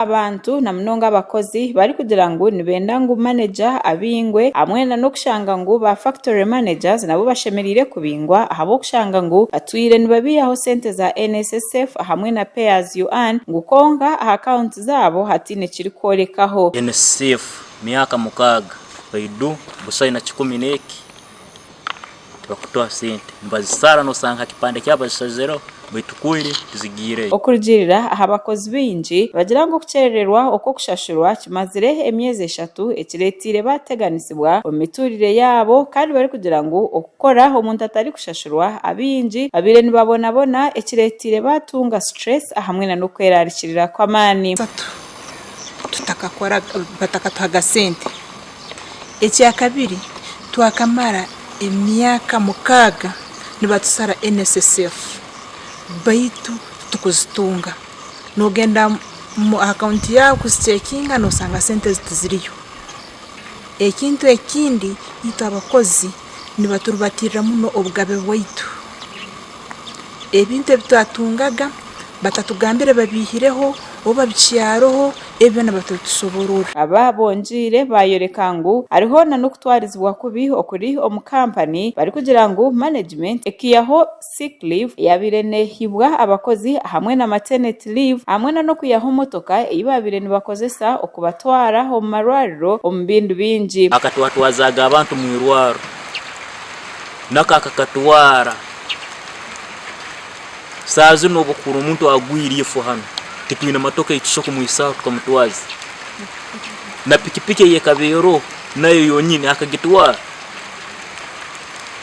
abantu na munonga abakozi barikugira ngu nibenda ngu maneja abingwe hamwe na n'okushanga ngu ba factory managers nabo bashemereire kubingwa ahabw'okushanga ngu batwire nibabiihaho sente za NSSF hamwe na pay as you earn ngu kwonka aha account zaabo hataine kirikworekaho. NSSF myaka mukaaga, Baidu, Busaine kikumi n'eki tibakutuha sente nibazisara nosanga ha kipande kyabo bazishazireho baitu kweli tizigaireyo. Okurugiirira aha bakozi baingi, nibagira ngu okukyerererwa okw'okushashurwa kimazire emyezi eshatu ekireeteire baateganisibwa omu mituurire yaabo kandi barikugira ngu okukora omuntu atarikushashurwa abaingi babaire nibabonabona ekireeteire baatunga stress ahamwe n'okweraarikirira kw'amaani. Tutakakora batakatuhaga sente. Ekya kabiri, twakamara emyaka mukaaga nibatusara NSSF baitu titukuzitunga. Noogenda aha akaunti yaabo kuziceekinga noosanga sente tiziriyo. Ekintu ekindi, itwe abakozi nibaturibatirira muno obugabe bwaitu. Ebintu ebi twatungaga batatugambire babeihireho oba babicyareho, ebi byona batatusoborora. Aba bongiire baayoreka ngu hariho nanokutwarizibwa kubi okuri omu kampani barikugira ngu manegimenti ekiihaho Sick leave yaabaire neehibwa abakozi hamwe na maternity leave hamwe na n'okuyaho motoka ei baabaire nibakozesa okubatwara omu marwariro omu bindu bingi. Akatwatwazaaga abantu mu irwariro naka kakatwara saaha zinu obu okuhurira omuntu agwire ife hanu titwine motoka ei tushusha kumwisaho tukamutwaza na pikipiki ei ekaba eroho nayo yonyine akagitwara.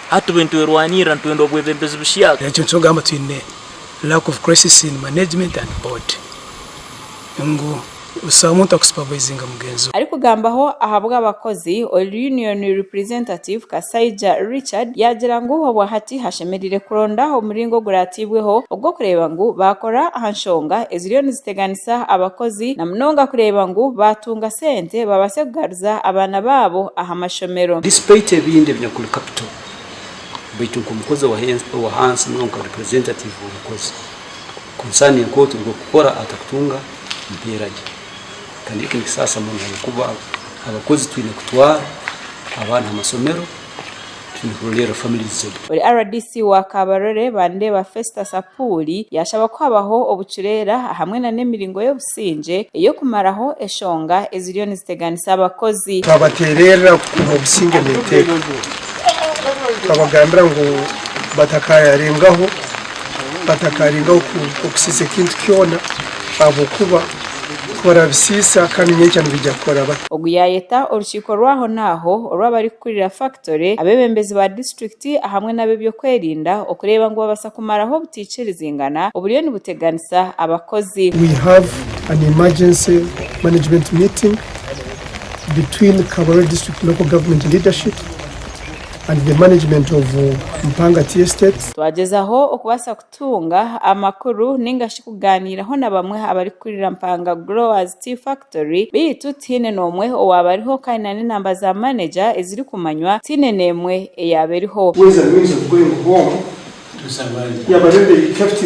Hati bwe nitwerwanirira, nitwenda obwebembezi busya. Ekyo nikyokugamba twine lack of crisis in management and board ngu busaho muntu aku supervisinga mugenzi we. Arikugambaho ahabw'abakozi, oil union representative Kasaija Richard yaagira ngu obwahati hashemereire kuronda omuringo oguratiibweho ogw'okureeba ngu baakora aha nshonga eziriyo niziteganisa abakozi na munonga kureeba ngu baatunga sente babaase kugaruza abaana baabo aha amashomero. Despite ebindi ebinyakuli capital baitu nk'omukozi owahansi muno nka representative w'omukozi concerning nkoku turi kukora atakutunga mpeera gye kandi eki nikisaasa muno ahabw'okuba abakozi twine kutwara abaana aha masomero twine kurolerra families zabo. Ori rdc wa Kabarole Bandeba Festus Apuuli yashaba kuhabaho obucureera ahamwe na n'emiringo y'obusaasi. obusingye ey'okumaraho eshonga eziriyo niziteganisa abakozi. Twabateererera kukuuma obusingye n'eteeka. Twabagambira ngu batakaayarengaho, batakaarengaho kusiisa ekintu kyona ahabw'okuba ku barabisiisa kandi nyenkya nibaija kukora bata? Ogu yaayeta orukiiko rw'ahonaaho orw'abarikukurira FACT Tore, abeebembezi ba disiturikiti ahamwe n'ab'eby'okwerinda okureeba ngu babaasa kumaraho obutaikirizingana oburiyo nibuteganisa abakozi. We have an emergency management meeting between Kaboora District Local Government leadership and the management of Mpangati Estate. Twagyezaho okubaasa kutunga amakuru nainga shi kugaaniiraho na bamwe abarikukurira Mpanga Growers Tea Factory beitu tihaine n'omwe owaaba ariho kandi na n'enaamba za maneja ezirikumanywa tihaine n'emwe eyaaba eriho. Where's the means of going home? Yabareebe captain.